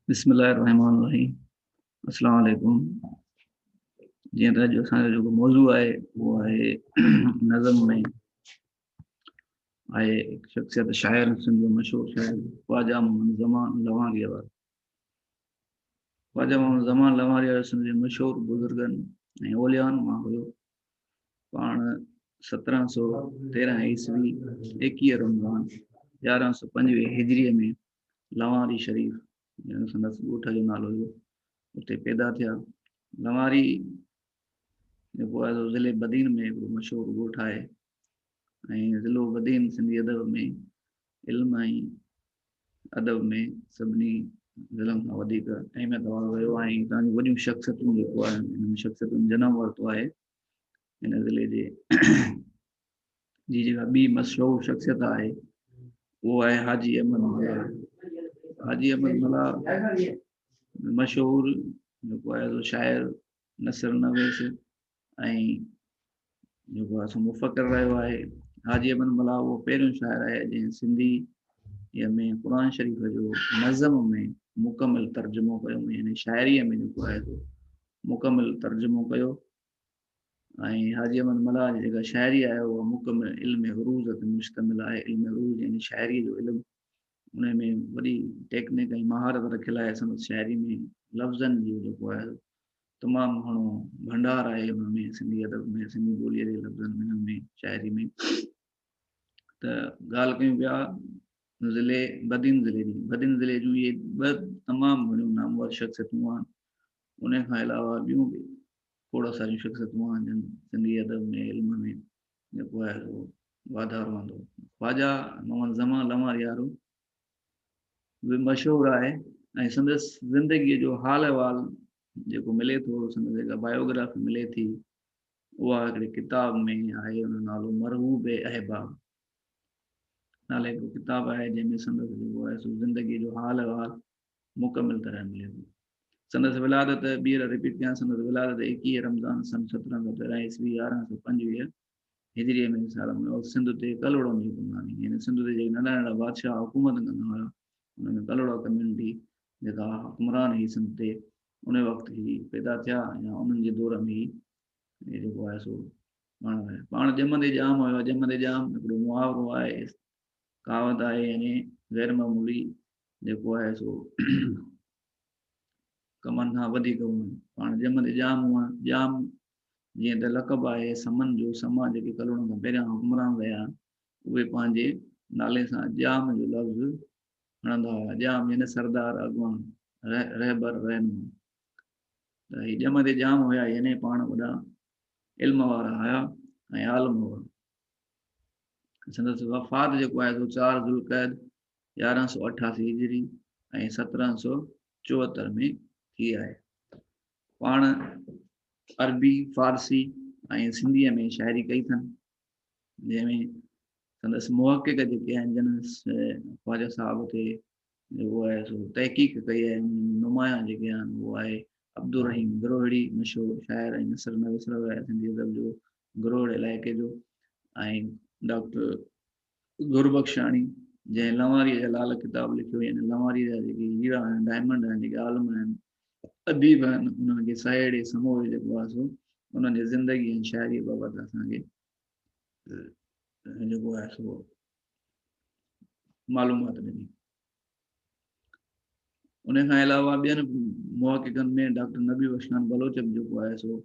بسم الله الرحمن الرحيم السلام عليڪم جيئن ته جو اسان جو موضوع آهي اهو آهي نظم ۾ آهي شخصيت شاعر سنڌ جو مشهور شاعر خواجه محمد زمان لوانگي وارو خواجه محمد زمان لوانگي وارو سنڌ جي مشهور بزرگن ۽ اولیان مان هيو پاڻ سترهن سؤ تيرهن عيسوي ايڪيهه رمضان يارهن سؤ پنجويهه هجريء ۾ لواري شريف جنهن سندس ڳوٺ جو نالو هو اتي پيدا ٿيا لواري جيڪو آهي ضلع بدين ۾ هڪڙو مشهور ڳوٺ آهي ۽ ضلعو بدين سنڌي ادب ۾ علم ۽ ادب ۾ سڀني ضلعن کان وڌيڪ اهميت وارو رهيو آهي هتان جون وڏيون شخصيتون جيڪو آهي انهن شخصيتن جنم ورتو آهي هن ضلعي جي جي جيڪا ٻي مشهور شخصيت آهي اهو آهي حاجي احمد ملا حاجي احمد ملا مشهور جيڪو آهي سو شاعر نثر نويس ۽ جيڪو اسان مفڪر رهيو آهي حاجي ابن ملا اهو پهريون شاعر آهي جنهن سنڌي يا ۾ قرآن شريف جو نظم ۾ مڪمل ترجمو ڪيو يعني شاعريء ۾ جيڪو آهي سو مڪمل ترجمو ڪيو ۽ حاجي ابن ملا جي جيڪا شاعري آهي اها مڪمل علم عروض تي مشتمل آهي علم عروض يعني شاعريء جو علم ان ۾ وڏي ٽيڪنڪ ۽ مهارت رکيل آهي سندس شاعري ۾ لفظن جو جيڪو آهي تمام گهڻو ڀنڊار آهي ان ۾ سنڌي ادب ۾ سنڌي ٻوليء جي لفظن ۾ انهن ۾ شاعري ۾ ته ڳالهه ڪيون پيا ضلعي بدين ضلعي جي بدين ضلعي جون اهي ٻه تمام گهڻيون نامور شخصيتون آهن ان کان علاوه ٻيون به کوڙ ساريون شخصيتون آهن جن سنڌي ادب ۾ علم ۾ جيڪو آهي واڌارو آندو خواجا محمد زمان لوار يارو به مشهور آهي ۽ سندس زندگيء جو حال احوال جيڪو ملي ٿو، سندس جيڪا بايوگرافي ملي ٿي، اها هڪڙي ڪتاب ۾ آهي، ان جو نالو مرغوب احباب نالي هڪڙو ڪتاب آهي، جنهن ۾ سندس جيڪو آهي سو زندگيء جو حال احوال مڪمل طرح ملي ٿو. سندس ولادت ٻيهر رپيٽ ڪيان سندس ولادت ايڪيهه رمضان سن سترهن سؤ تيرهن عيسوي يارهن سؤ پنجويهه هجريء ۾ مثال ان وقت سنڌ تي ڪلوڙن جي حڪمراني يعني سنڌ تي جيڪي ننڍا ننڍا بادشاهه حڪومت ڪندا هيا ان ۾ ڪلوڙا ڪميونٽي جيڪا حڪمران هي سنڌ تي ان وقت هي پيدا ٿيا يا انهن جي دور ۾ هي جيڪو آهي سو پاڻ آهي پاڻ ڄمندي ڄام هيو ڄمندي ڄام هڪڙو محاورو آهي ڪاوت آهي يعني غير معمولي جيڪو آهي سو ڪمن کان وڌيڪ هئڻ پاڻ ڄمندي ڄام هئڻ ڄام جيئن ته لقب آهي سمن جو، سما جيڪي ڪلهوڙن کان پهريان حڪمران رهيا، اهي پنهنجي نالي سان ڄام جو لفظ کڻندا هيا. ڄام يعني سردار، اڳواڻ، رهبر، رهنما. ته هي ڄم تي ڄام هيا يعني پاڻ وڏا علم وارا هيا ۽ عالم هئا. سندس وفات جيڪو آهي سو چار ذوالقعد يارهن سؤ اٺاسي هجري ۽ سترهن سؤ چوهتر ۾ ٿي آهي. پاڻ عربي، فارسي ۽ سنڌيء ۾ شاعري ڪئي اٿن، جنهن ۾ سندس محقق جيڪي آهن، جن خواجه صاحب تي جيڪو آهي سو تحقيق ڪئي آهي، انهن ۾ نمايان جيڪي آهن اهو آهي عبدالرحيم گروهڙي، مشهور شاعر ۽ نثر نويس رهيو آهي سنڌي ادب جو، گروهڙ علائقي جو ۽ ڊاڪٽر گربخشاڻي جنهن لنواريء جا لعل ڪتاب لکيو يعني لنواريء جا جيڪي هيرا آهن ڊائمنڊ آهن جيڪي عالم آهن اديب آهن انهن کي سهيڙي سموري جيڪو آهي سو انهن جي زندگي ۽ شاعري بابت اسان کي جيڪو آهي سو معلومات ڏني ان کان علاوه ٻين محققن ۾ ڊاڪٽر نبي بخشان بلوچ به جيڪو آهي سو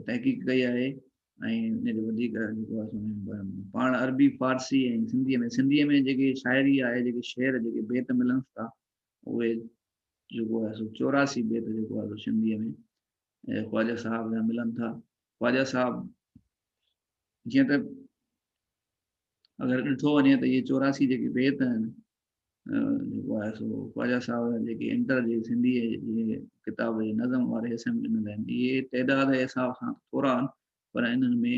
تحقيق ڪئي آهي ۽ ان جو وڌيڪ جيڪو آهي پاڻ عربي فارسي ۽ سنڌي ۾ سنڌي ۾ جيڪي شاعري آهي جيڪي شعر جيڪي بيت ملن ٿا اهي جيڪو آهي سو چوراسي بيت جيڪو آهي سنڌي ۾ خواجه صاحب جا ملن ٿا خواجه صاحب جيئن ته اگر ڏٺو وڃي ته اهي چوراسي جيڪي بيت آهن جيڪو آهي سو خواجا صاحب جيڪي انٽر جي سنڌي جي ڪتاب جي نظم واري حصي ۾ ڏنل آهن اهي تعداد جي حساب سان ٿورا آهن پر انهن ۾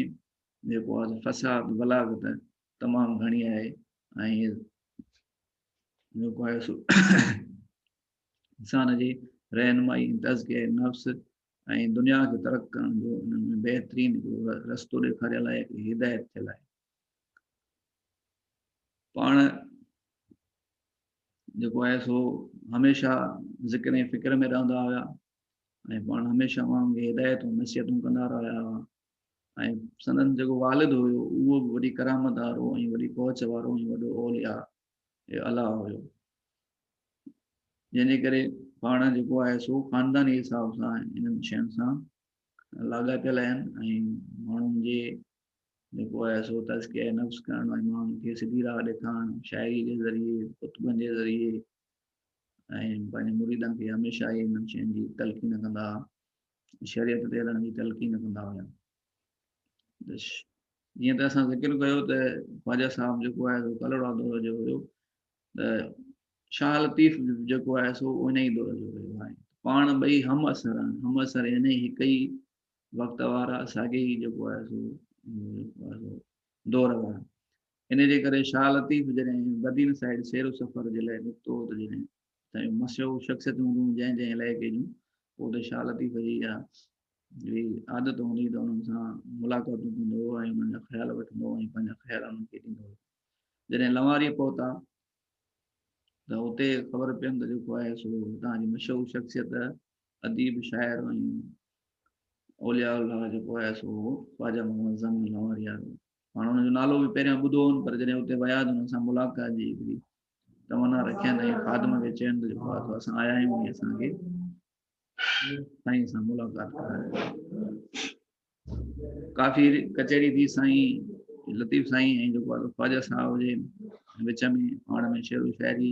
جيڪو آهي فساد بلاغت تمام گهڻي آهي ۽ جيڪو آهي سو انسان جي رهنمائي تذڪي نفس ۽ دنيا کي ترق ڪرڻ جو انهن ۾ بهترين رستو ڏيکاريل آهي هدايت ٿيل آهي پاڻ جيڪو آهي سو هميشه ذڪر ۽ فڪر ۾ رهندا هيا ۽ پاڻ هميشه ماڻهن کي هدايتون نصيحتون ڪندا رهيا هئا ۽ سندن جيڪو والد هيو اهو به وڏي ڪرامت وارو ۽ وڏي پهچ وارو ۽ وڏو اوليا الا هيو جنهن جي ڪري پاڻ جيڪو آهي سو خانداني حساب سان انهن شين سان لاڳاپيل آهن ۽ ماڻهن جي جيڪو آهي سو تزڪيه نفس ڪرڻ ۽ ماڻهن کي سڌي راهه ڏيکارڻ شاعري جي ذريعي ڪتبن جي ذريعي ۽ پنهنجي مريدن کي هميشه ئي انهن شين جي تلقين ڪندا شريعت تي هلڻ جي تلقين ڪندا هيا جيئن ته اسان ذڪر ڪيو ته خواجه صاحب جيڪو آهي سو ڪلڙا دور جو هيو ته شاهه لطيف جيڪو آهي سو ان ئي دور جو هيو آهي پاڻ ٻئي هم اثر آهن هم اثر ان ئي هڪ ئي وقت وارا ساڳي ئي جيڪو آهي سو دور وارا ان جي ڪري شاهه لطيف جڏهن بدين سائيڊ سير و سفر جي لاء نڪتو ته جڏهن سائين مشهور شخصيت هونديون جنهن جنهن علائقي جون پوء ته شاهه لطيف جي اها جي عادت هوندي ته انهن سان ملاقاتون ڪندو هو ۽ انهن جا خيال وٺندو هو ۽ پنهنجا خيال انهن کي ڏيندو هو جڏهن لواري پهتا ته اتي خبر پيم ته جيڪو آهي سو هتان جي مشهور شخصيت اديب، شاعر ۽ اولياء الله جيڪو آهي سو هو خواجه محمد زم لاهوري وارو. پاڻ هن جو نالو به پهريان ٻڌو هون پر جڏهن اتي ويا ته هن سان ملاقات جي هڪڙي تمنا رکين ۽ خادم کي چين ته جيڪو آهي سو اسان آيا آهيون ۽ اسان کي سائين سان ملاقات ڪرايو. ڪافي ڪچهري ٿي سائين لطيف سائين ۽ جيڪو آهي خواجه صاحب جي وچ ۾ پاڻ ۾ شعر و شاعري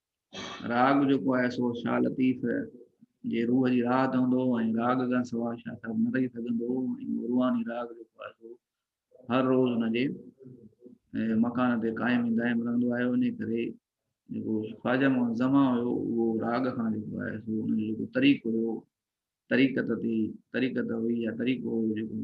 راڳ جيڪو آهي سو شاهه لطيف جي روح جي راحت هوندو ۽ راڳ کان سواء شاهه صاحب نه رهي سگهندو ۽ روحاني راڳ جيڪو آهي سو هر روز هن جي مڪان تي قائم ۽ دائم رهندو آيو ان ڪري جيڪو خواجه محمد زمان هيو اهو راڳ کان جيڪو آهي سو ان جو جيڪو طريقو هيو طريقت تي طريقت هئي يا طريقو هيو جيڪو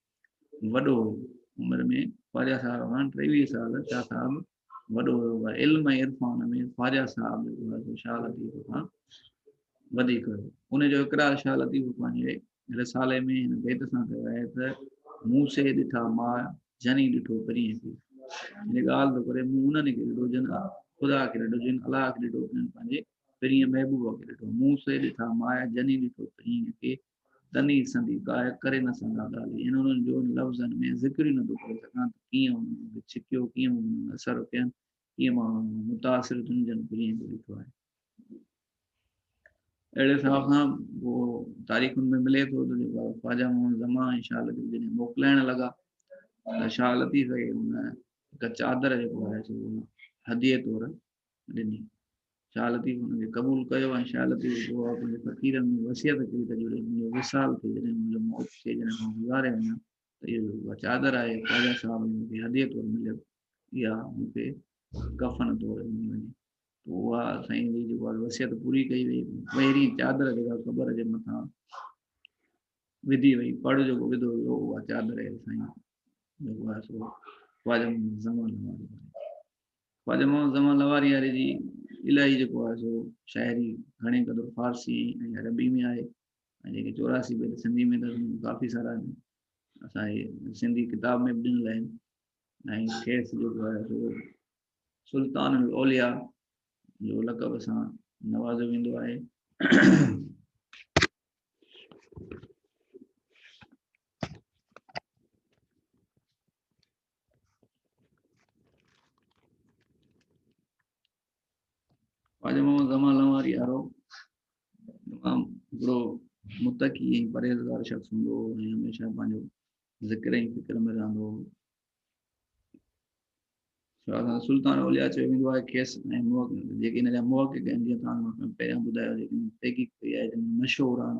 وڏو هو عمر ۾ خواجا صاحب کان ٽيويهه سال شاهه صاحب وڏو هيو پر علم ۽ عرفان ۾ خواجا صاحب جيڪو هو شاهه لطيف کان وڌيڪ هيو ان جو اقرار شاهه لطيف پنهنجي رسالي ۾ هن بيت سان ڪيو آهي ته مون سي ڏٺا ما جني ڏٺو پرين کي هن ڳالهه ٿو ڪري مون انهن کي ڏٺو جن خدا کي ڏٺو جن الله کي ڏٺو انهن پنهنجي پرين محبوب کي ڏٺو مون سي ڏٺا ما جني ڏٺو پرين کي تني سندي ڪاهه ڪري نه سگهان ڳالهه ان انهن جو ان لفظن ۾ ذڪر ئي نٿو ڪري سگهان ته ڪيئن انهن مون کي ڇڪيو ڪيئن مون انهن اثر ڪين ڪيئن مان انهن مان متاثر ٿيم جن کي ائين ڏٺو آهي اهڙي حساب سان تاريخن ۾ ملي ٿو ته جيڪو خواجا محمد زمان ۽ شاهه لطيف جڏهن موڪلائڻ لڳا ته شاهه لطيف کي ان هڪ چادر جيڪو آهي سو هديء طور ڏني. شاهه لطيف ان کي قبول ڪيو ۽ شاهه لطيف بابا پنهنجي فقيرن ۾ وصيت ڪئي ته جڏهن منهنجو وصال ٿئي، جڏهن منهنجو موت ٿئي، جڏهن مان گذاري وڃان ته اهو جيڪو اها چادر آهي، خواجه صاحب جي مون کي هديي طور مليل، اها مون کي ڪفن طور ڏني وڃي. پوء اها سائين جي جيڪو آهي وصيت پوري ڪئي وئي. پهرين چادر جيڪا قبر جي مٿان وڌي وئي، پڙ جيڪو وڌو ويو، اها چادر اهي سائين جيڪو آهي سو خواجه محمد زمان واري آهي. خواجه محمد زمان لوارياري جي الاهي جيڪو آهي سو شاعري گهڻي قدر فارسي ۽ عربي ۾ آهي ۽ جيڪي چوراسي بيت سنڌي ۾ اٿس ڪافي سارا اسان جي سنڌي ڪتاب ۾ به ڏنل آهن ۽ کيس جيڪو آهي سو سلطان الاوليا جو لقب سان نوازو ويندو آهي خواجه محمد زمان لواري وارو تمام وڏو متقي ۽ پرهيزگار شخص هوندو هو ۽ هميشه پنهنجو ذڪر ۽ فڪر ۾ رهندو هو سلطان اوليا چيو ويندو آهي کيس ۽ جيڪي هن جا محقق آهن جيئن تان پهريان ٻڌايو جيڪي تحقيق ڪئي آهي جن مشهور آهن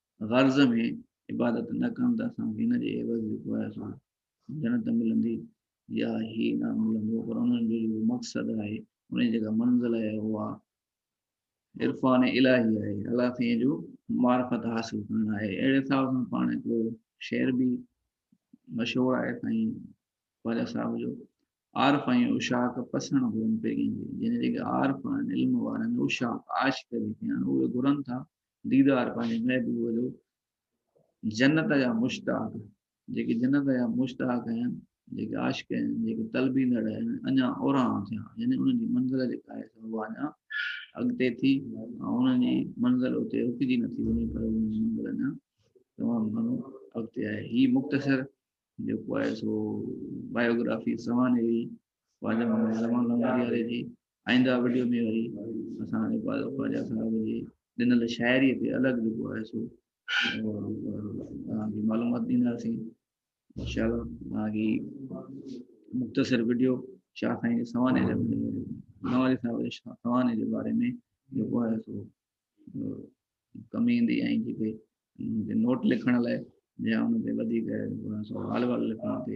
غرض ۾ عبادت نه ڪن ته اسان کي ان جي عيوض جيڪو آهي سو جنت ملندي يا هي نه ملندو پر انهن جو جيڪو مقصد آهي ان جي جيڪا منزل آهي اها عرفان الهي آهي الله سائين جو معرفت حاصل ڪرڻ آهي اهڙي حساب سان پاڻ هڪڙو شعر به مشهور آهي سائين خواجا صاحب جو عارف ۽ اشاق پسڻ گهرن پيرين جي جن جيڪي عارف آهن علم وارا آهن اشاق عاشق جيڪي آهن اهي گهرن ٿا ديدار پنهنجي محبوب جو جنت جا مشتاق جيڪي جنت جا مشتاق آهن جيڪي عاشق آهن جيڪي طلبيندڙ آهن اڃا اوران ٿيا يعني انهن جي منزل جيڪا آهي اها اڃا اڳتي ٿي ۽ انهن جي منزل اتي رڪجي نٿي وڃي پر انهن جي منزل اڃا تمام گهڻو اڳتي آهي هي مختصر جيڪو آهي سو بايوگرافي سوانح جي خواجه محمد زمان لنگرياري جي آئينده وڊيو ۾ وري اسان اقبال خواجه صاحب جي ڏنل شاعري تي الڳ جيڪو آهي سو اوهان کي معلومات ڏينداسين انشاء الله اوهان کي مختصر وڊيو شاهه سائين جي سوانح جي نواري صاحب جي شاهه سوانح جي باري ۾ جيڪو آهي سو ڪم ايندي ۽ جيڪي نوٽ لکڻ لاء يا ان تي وڌيڪ حال وال لکڻ تي